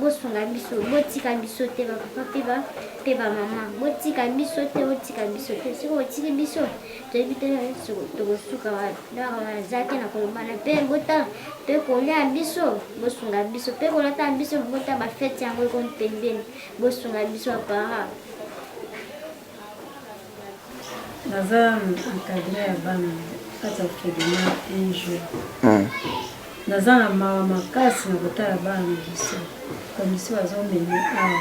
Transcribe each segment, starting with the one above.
bosunga biso botika biso te bapapa mpe ba mpe bamama botika biso te botika biso te soki botiki biso toyebi te tokosuka waza te na kolobana mpe bota mpe kolia biso bosunga biso mpe kolata biso bota bafeti yango ekomi pembeni bosunga biso bapara naza encadre ya bana kati ya orphelina un jour hmm. naza na mawa makasi na kotala bana na biso komisi bazomemi awa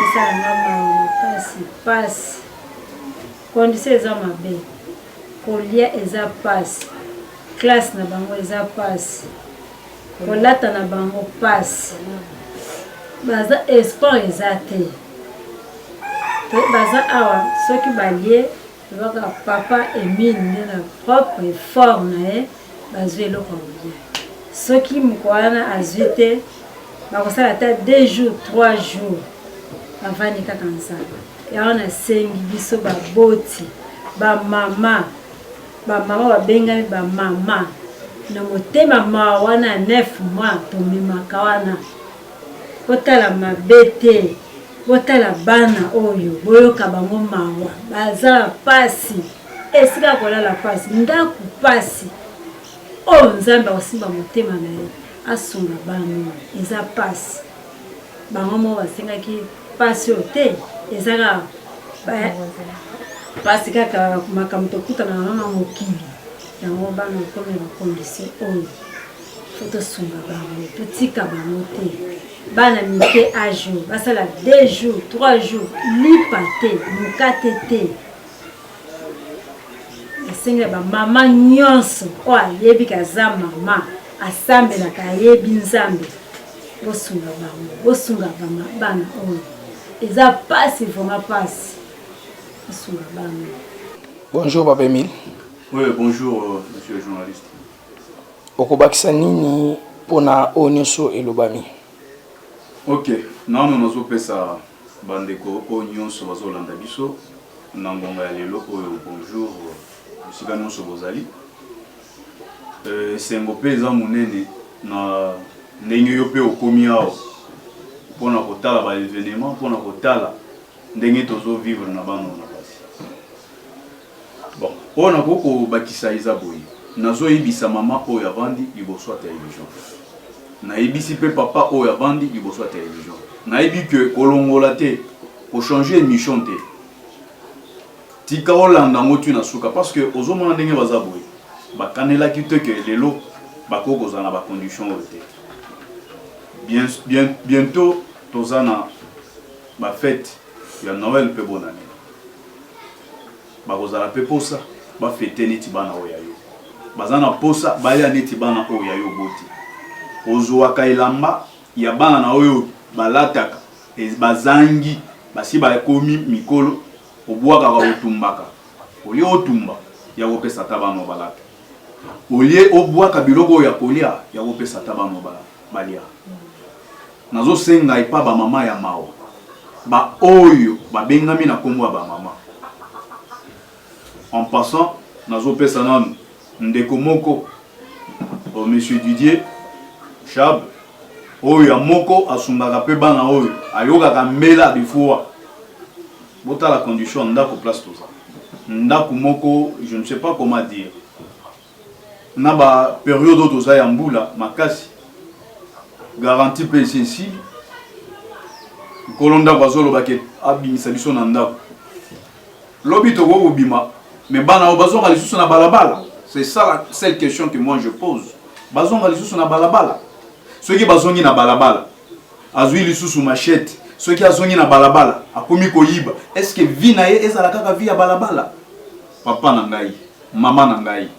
esala nga mawa makasi mpasi kondisio eza mabe kolia eza mpasi classe na bango eza mpasi kolata na bango pasi baza esport eza te pe baza awa soki balie lobaka papa emile nde na propre effort na ye bazwi eloko ya kolia soki moko wana azwi te bakosala ata deux jours trois jours bavandi kaka nzala yango nasengi biso baboti bamama Ba maman ba bengami ba maman na motema mawa wana 9 mois tomemaka wana botala mabe te botala bana oyo boyoka bango mawa baza pasi esika kolala pasi ndaku pasi oyo oh, nzambe akosimba motema na ye asunga bana eza pasi bango moko basengaki Pasi oyo te eza kaka pasi kaka makambo tokutana na na mokili yango bana okomi na kondisi oyo fo tosunga bango totika bango te bana mike ajo basala deux jours trois jours lipa te mokate te asengela bamama nyonso oyo ayebi kaza mama asambelaka ayebi nzambe bosunga bango bosunga bama bana oyo eza pasi vraiment pasi bosunga bana bonjour papa emile oui bonjour euh, monsieur le journaliste okobakisa nini mpona oyo nyonso elobami ok nano nazopesa bandeko oyo nyonso bazolanda biso na ngonga ya lelo oyo bonjour euh, esika nyonso bozali Esengo mpe eza monene na ndenge yo mpe okomi awa mpo na kotala ba evenements, mpo na kotala ndenge tozo vivre na bana na basi. Bon, oyo nakoki kobakisa eza boye, nazo yebisa mama oyo avandi liboso ya television, nayebisi mpe papa oyo avandi liboso ya television, nayebi que kolongola te, ko changer emission te. Tika olanda yango tu na suka parce que ozomona ndenge baza boye bakanelaki te ke lelo bakoki kozala na bacondition oyo te bien, bien, bientôt toza na bafete ya noel mpe bonane bakozala mpe posa bafete neti bana oyo ya yo baza na posa baya neti bana oyo ya yo boti ozwaka elamba ya bana na oyo balataka e, bazangi basi bakomi mikolo Obwakaka otumbaka olie otumba ya kopesa ata bana obalata olie obwaka biloko oyo ya kolia ya kopesa ata bana balia nazosenga epa bamama ya mawa baoyo babengami na nkombo ya bamama en passant nazopesa nanu Ndeko moko, oh, Monsieur Didier Chab, oyo ya moko asungaka pe bana oyo, ayokaka mbela de fois. Botala condition ya ndako place toza. Ndako moko, je ne sais pas comment dire. Na ba periode oyo toza ya mbula makasi, garantie pe esi esili. Nkolo ndako azoloba ke abimisa biso na ndako. Lobi tokoki kobima mais bana oyo bazonga lisusu na balabala? C'est ça la seule question que moi je pose. Bazonga lisusu na balabala? Soki bazongi na balabala, azwi lisusu machette, soki azongi na balabala, akomi koyiba, est-ce que vie na ye ezala kaka vie ya balabala? Papa na ngai, mama na ngai,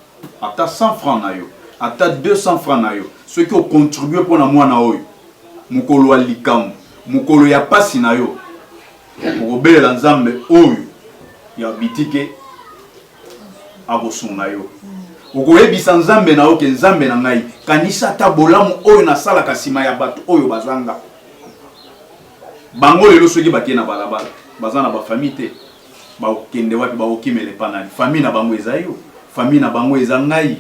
ata 100 francs na yo, ata 200 francs na yo, soki ocontribue mpo na mwana oyo, mokolo ya likambo, mokolo ya pasi na yo, okobelela nzambe oyo ya bitike akosunga yo okoyebisa nzambe na yo ke nzambe na ngai kanisa ata bolamu oyo nasalaka nsima ya bato oyo bazanga bango lelo soki bakei na balabala baza na bafamille te bakokende wapi bakokimela epa nani famille na bango eza yo famille na bango eza ngai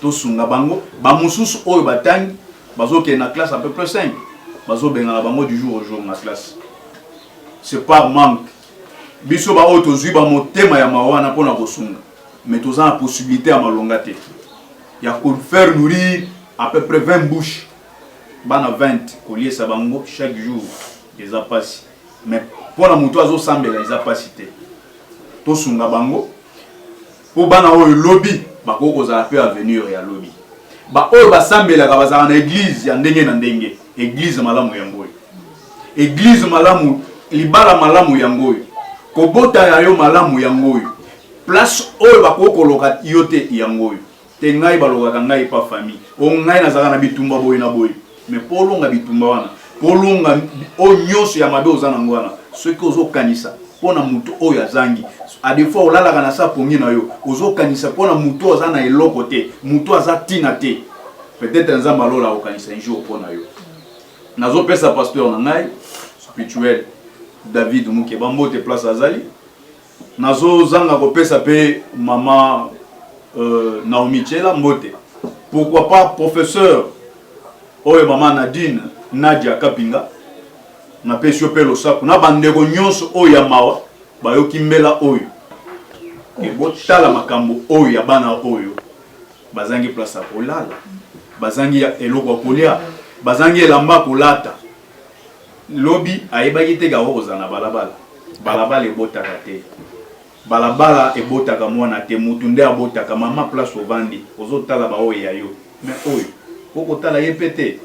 Tosunga bango. Ba mususu oyo batangi bazokende na classe à peu près 5 bazobengana bango du jour au jour na classe. C'est par manque. Biso baoyo tozwi bamotema ya mawa wana mpo na kosunga mais toza na possibilité ya malonga te ya ko faire nourrir à peu près 20 bouches bana 20 koliesa bango chaque jour eza mpasi mais mpo na moto azosambela eza mpasi te tosunga bango Mpo bana oyo lobi bakoki kozala mpe avenire ya lobi. Baoyo basambelaka bazalaka na eglize ya ndenge na ndenge. Eglize malamu yango oyo, eglize malamu, libala malamu yango oyo, kobota ya yo malamu yango oyo, place oyo bakoki koloka yo te yango oyo te. Ngai balokaka ngai pa famille o ngai nazalaka na bitumba boye na boye Mais po olonga bitumba wana, po olonga oyo nyonso ya mabe oza nango wana, soki ozokanisa mpo na moto oyo azangi adefa olalaka na sa pongi na yo ozokanisa mpo na moto oyo aza na eloko te moto aza ntina te peut-être nzambe alola akokanisa un jour mpo na yo nazopesa pasteur na ngai spirituel david mukeba mbote place azali Nazo zanga ko pesa pe maman euh, Naomi Tshela mbote. Pourquoi pas professeur oyo maman Nadine Nadia Kapinga na pesi yo pe losako na bandeko nyonso oyo ya mawa bayoki mbela oyo botala makambo oyo ya bana oyo bazangi place ya kolala bazangi eloko ya kolia bazangi elamba kolata Lobi ayebaki te gaour ozala na balabala balabala ebotaka te balabala ebotaka mwana te mutu nde abotaka maman place ovandi ozotala baoyo ya yo mais oyo okotala ye pe te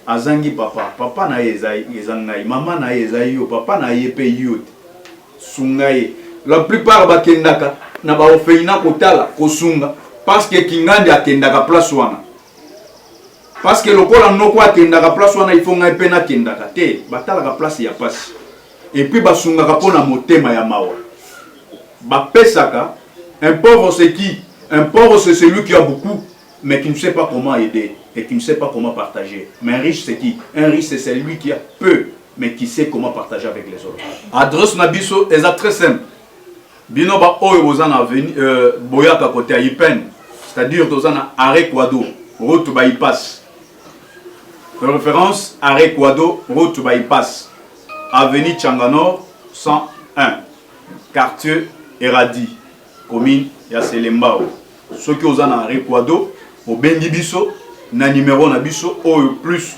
azangi papa papa na ye eza eza ngai maman na ye eza yo papa na ye pe yo te sunga ye la plupart bakendaka na ba orphelinat kotala kosunga parce que kingandi akendaka place wana Parce que lokola noko akendaka place wana il faut ngai mpe nakendaka te batalaka place ya pasi epuis basungaka mpo na motema ya mawa bapesaka un pauvre c'est qui un pauvre c'est celui qui a beaucoup mais qui ne sait pas comment aider et qui ne sait pas comment partager mais un riche c'est qui un riche c'est celui qui a peu mais qui sait comment partager avec les autres adresse na biso eza très simple Bino ba oyo boza na veni, euh, boyaka kote ya Ipen, c'est-à-dire toza na arrêt Quado, route bypass. De référence arrêt Quado, route bypass. Avenue Changanor 101, quartier Eradi, commune ya Selembao. Soki oza na arrêt Quado, obengi biso na numéro na biso oyo plus